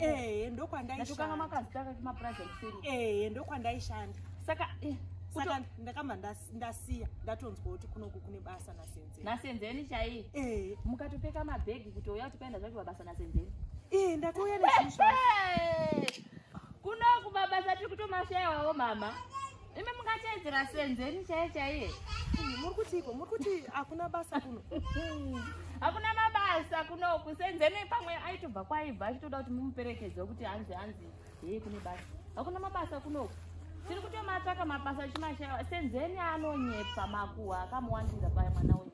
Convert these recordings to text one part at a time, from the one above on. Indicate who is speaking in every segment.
Speaker 1: eh ndokwandaishanda
Speaker 2: makazitaka
Speaker 1: kuma prize kuseri eh ndokwandaishanda
Speaker 2: saka eh,
Speaker 1: saka ndakamba
Speaker 2: ndasiya ndatonzwa kuti kunoku kune basa nasenzeni nasenzeni chaiye
Speaker 1: eh mukatopeka mabhegi kuti uya kuti paenda zvacho basa nasenzeni eh ndakauya
Speaker 2: nezvinhu
Speaker 1: kunoku mabasa tiri kutomashayawo mama imi mungateedzera senzeni chaiye chaiye muri kutiiko
Speaker 2: muri kuti hakuna basa kuno hakuna
Speaker 1: mabasa kuno kusenzeni pamwe aitobva kwaibva achitoda kuti mumuperekedze kuti hanzi hanzi hee kune basa hakuna mabasa kunoku tiri kutomatsvaka mabasa chimashaya senzeni anonyepa makuhwa akamuwandira paya mwana wenyu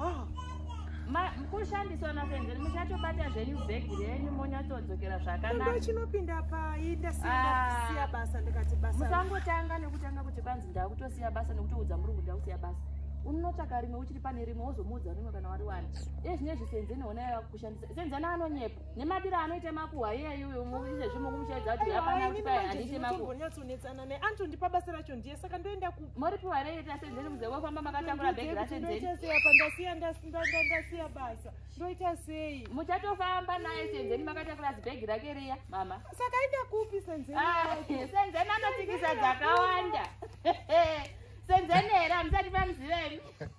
Speaker 1: ah. kushandiswa nasenzeni muchatobata zvenyu bhegi renyu monyatsodzokera zvakanaka chinopinda pai
Speaker 2: ndasiya ah. basa ndikati basa musangotanga nekutanga
Speaker 1: kuti banzi ndakutosiya basa nekutoudza murungu ndakusiya basa unotsvaka rimwe uchiri pane rimwe wozomuudza rimwe kana wari wani iye zvine zvisenzeni ona yava kushandisa senzeni anonyepa nemadiro anoita makuhwa iyeyu izvezvi mukumuchaidza kuti yapanaaaiite makuhwa antondipa
Speaker 2: basa racho ndiye saka ndoenda ku mori piwa rei tasenzeni
Speaker 1: muze wofamba makatakura bag rasenzeni ndoita sei apa ndasiya ndasiya
Speaker 2: basa ndoita sei muchatofamba naye
Speaker 1: senzeni makatakura zibag rake riya mama saka ita kupi
Speaker 2: senzeni ah, senzeni
Speaker 1: anotsikisa dzakawanda senzeni here hamusati pamuziveni